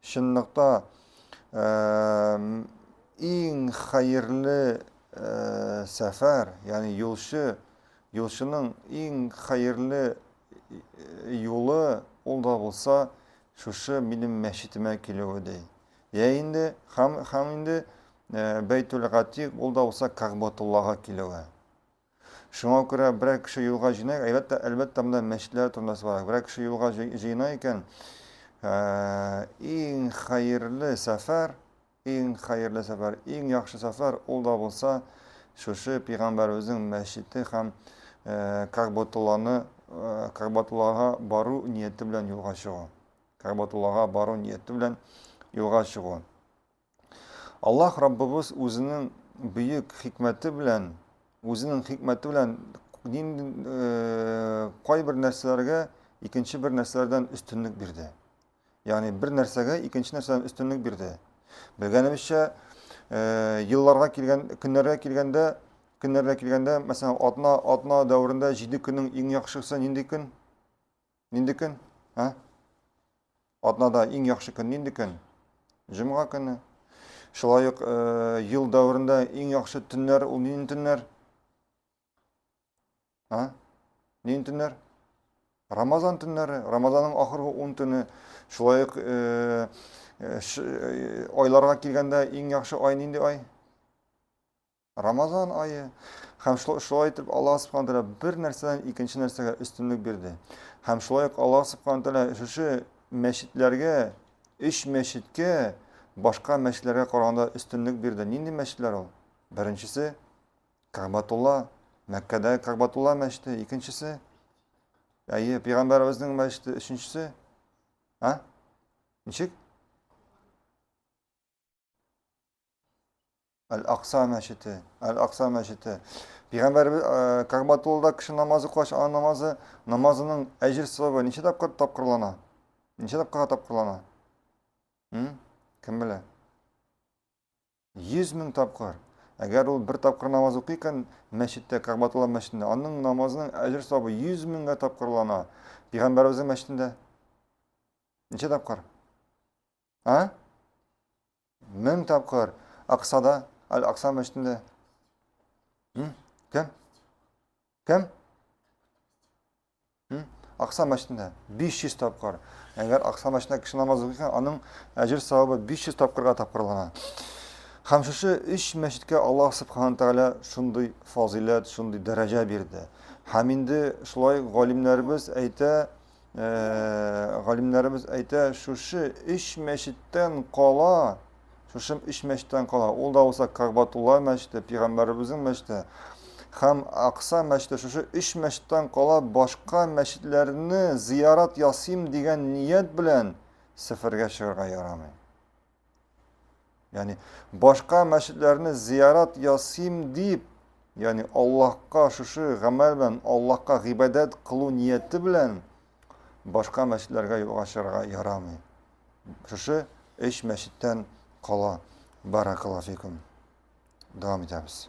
Чынлыкта, иң хәерле сәфәр, ягъни юлчы, юлчының иң хәерле юлы ул да булса шушы минем мәчетемә килүе ди. Йә инде, һәм, һәм инде Бәйтүл Гатик ул да булса Кагъбатуллага килүе. Шуңа күрә берәр кеше юлга җыйнак, әлбәттә, әлбәттә, монда мәчетләр турында сорарак, берәр кеше юлга җыена икән, иң хәерле сәфәр, иң хәерле сәфәр, иң яхшы сәфәр ул да булса шушы пигамбәребезнең мәчете һәм Кагбатулланы, Кагбатуллага бару нияте белән юлга чыгу. Кагбатуллага бару нияте белән юлга чыгу. Аллаһ Раббыбыз үзенең бөек хикмәте белән, үзенең хикмәте белән э, кайбер нәрсәләргә икенче бер нәрсәләрдән өстенлек бирде. Ягъни бер нәрсәгә икенче нәрсәдән өстенлек бирде. Белгәнебезчә, э, елларга килгән, көннәргә килгәндә, көннәргә килгәндә, мәсәлән, атна атна дәверендә 7 көннең иң яхшысы нинди көн? Нинди көн? Ә? Атнада иң яхшы көн нинди көн? Җомга көне. Шулай ук э, ел дәверендә иң яхшы төннәр ул нинди төннәр? Ә? Нинди төннәр? Рамазан төннәре, Рамазанның ахыргы 10 төне. Шулай ук э, э, э, айларга килгәндә иң яхшы ай нинди ай? Рамазан ае, һәм шулай итеп Аллаһ Субхана Тәгалә бер нәрсәдән икенче нәрсәгә өстенлек бирде. Һәм шулай ук Аллаһ Субхана Тәгалә шушы мәчетләргә, өч мәчеткә башка мәчетләргә караганда өстенлек бирде. Нинди мәчетләр ул? Беренчесе Кәгъбатулла, Мәккәдәге Кәгъбатулла мәчете, икенчесе әйе, пәйгамбәребезнең мәчете, өченчесе а? Ничек? Әл-Акса мәчете, Әл-Акса мәчете. Пигамбәрбез Кагбатуллада кеше намазы кылгач, аның намазы, намазының әҗер савабы ничә тапкыр тапкырлана? Ничә тапкырга тапкырлана? Кем белә? 100 мең тапкыр. Әгәр ул бер тапкыр намаз укый икән мәчеттә, Кагбатулла мәчетендә, аның намазының әҗер савабы 100 меңгә тапкырлана. Пигамбәрбезнең мәчетендә ничә тапкыр? А? Мең тапкыр. Аксада, Аль-Акса мәчетендә. Кем? Кем? Акса мәчетендә 500 тапкыр. Әгәр Акса мәчетендә кеше намаз укыйса, аның әҗер савабы 500 тапкырга тапкырлана. Һәм шушы өч мәчеткә Аллаһ субханаһу тәгалә шундый фазиләт, шундый дәрәҗә бирде. Һәм инде шулай галимнәребез әйтә, галимнәребез әйтә, шушы өч мәчеттән кала, шушы өч мәчеттән кала, ул да булса Кагбатулла мәчете, пигамбәребезнең мәчете һәм Акса мәчете, шушы өч мәчеттән кала башка мәчетләрне зиярат ясыйм дигән ният белән сәфәргә чыгарга ярамый. Яни башка мәчетләрне зиярат ясыйм дип, яни Аллаһка шушы гамәл белән Аллаһка гыйбадәт кылу нияте белән башка мәчетләргә юлга чыгарга ярамый. Шушы эш мәчеттән кала. Баракаллаһу фикум. Дәвам итәбез.